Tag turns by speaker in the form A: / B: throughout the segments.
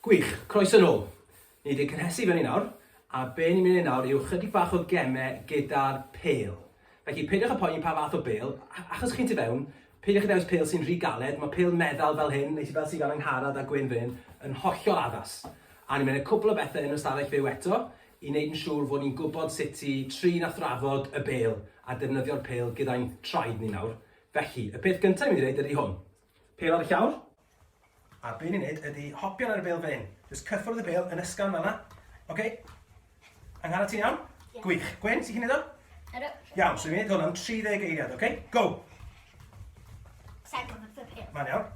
A: Gwych, croeso nôl. Ni wedi cynhesu fyny nawr, a be ni'n mynd i wneud nawr yw chydig bach o gemau gyda'r pêl. Felly, peidiwch â poeni pa fath o bêl, achos chi'n tu fewn, peidiwch â dewis pêl sy'n rhy galed, mae pêl meddal fel hyn, neu fel sydd gan Angharad a Gwyn fan hyn, yn hollol addas. A ni'n mynd i wneud cwpl o bethau yn yr ystafell fyw eto, i wneud yn siŵr fod ni'n gwybod sut i trin a thrafod y bêl a defnyddio'r pêl gyda'n traed ni nawr, felly, y peth gyntaf i mynd i wneud ydy hwn. Pêl ar y llawr, a be ni'n wneud ydy hopio lan ar y bêl fel hyn. Jyst cyffwrdd y bêl yn ysgafn fel yna. OK? Angharad, ti'n iawn? Yeah. Gwych. Gwen, ti'n
B: chi'n neud o?
A: Ydw. Iawn,
B: so ni'n neud hwn am
A: 30 eiliad, OK? Go! Sa'n gwybod y pêl.
B: Mae'n iawn.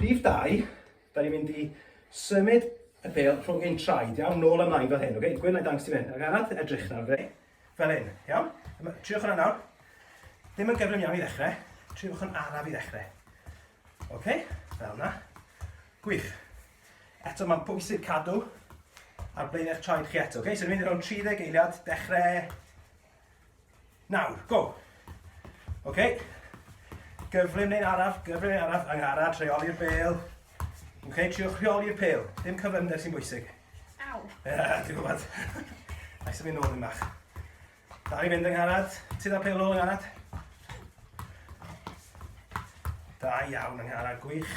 A: Rhif 2, da ni'n mynd i symud y pel rhwng hyn traed, iawn, nôl ymlaen fel hyn, okay? Gwyn, na i dangos ti fan hyn. Ac arall, edrych nawr, fe, fel hyn, iawn? Triwch hwnna nawr. Ddim yn gyflym iawn i ddechrau, triwch hwn araf i ddechrau. Oce, okay? fel yna. Gwych. Eto mae'n bwysig cadw ar blaen eich traed chi eto. Okay? So ni'n mynd i roi'n 30 eiliad, dechrau Nawr, go! Oce. Okay. Gyflym neu'n araf, gyflym neu'n araf, angharad, rheoli'r bel. Oce, okay, triwch rheoli'r pel. Dim cyflymder sy'n bwysig.
B: Aw. Ti'n gwybod.
A: Ais yn mynd nôl yn bach. Da i fynd angharad. Ti dda pel nôl angharad. Da iawn angharad, gwych.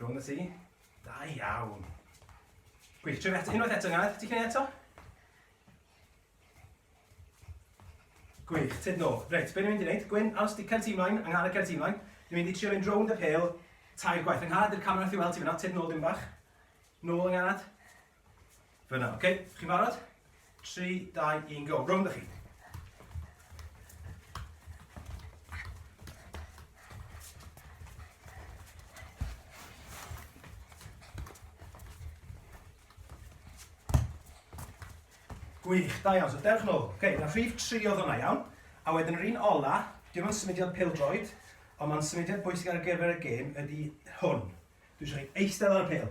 A: Go yn y tŷ. Da iawn. Gwych, tref eto. Unwaith eto, Gareth. Ti'n cynnig eto? Gwych, tyd nôl. Reit, be ni'n mynd i wneud? Gwyn, aros di cyrti ymlaen, angharad cyrti ymlaen. Ni'n mynd i trio mynd rownd y pel, tair gwaith. Angharad, dy'r camera allu weld ti fyna, tyd nôl dim bach. Nôl, angharad. Fyna, oce? Okay? Chi'n barod? 3, 2, 1, go. Rownd â chi. Gwych, da iawn. So dewch nôl. Oce, okay, na rhif 3 oedd hwnna iawn. A wedyn yr un ola, dim ond symudiad pildroed, ond mae'n symudiad bwysig ar gyfer y gêm ydy hwn. Dwi'n siarad eistedd ar y pil.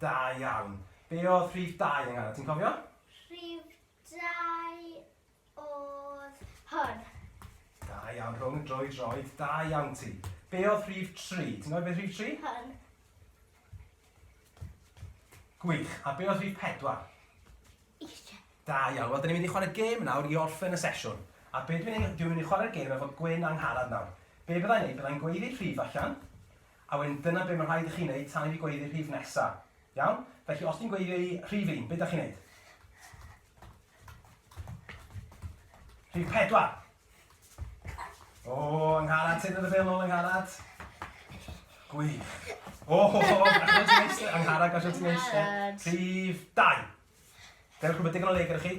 A: Da iawn. Be oedd rhif dau yng ti'n cofio? Rhif
B: dau oedd hwn. Da
A: iawn, rhwng y droi droed, da iawn ti. Be oedd rhif tri? Ti'n gwybod beth rhif tri?
B: Hwn.
A: Gwych. A be oedd rhif pedwar?
B: Eisiau. Da iawn. Wel,
A: dyn ni'n mynd i chwarae gêm nawr i orffen y sesiwn. A be dwi'n mynd i chwarae'r gêm efo Gwyn angharad nawr. Be byddai'n neud? Byddai'n gweiddi rhif allan, A wedyn dyna be' ma' rhaid i chi neud tan i fi gweiddi'r rhif nesa. Iawn? Felly os dwi'n gweiddio i rhif un, be' 'dach chi'n neud? Rhif pedwar! O, yng ngharad, tynnu dy bêl nôl yng ngharad. Gwych. O, gallwn ti'n eistedd, yng ngharad, gallwn ti'n eistedd. Rhif dau. Dewch rhywbeth digon o le gyda chi.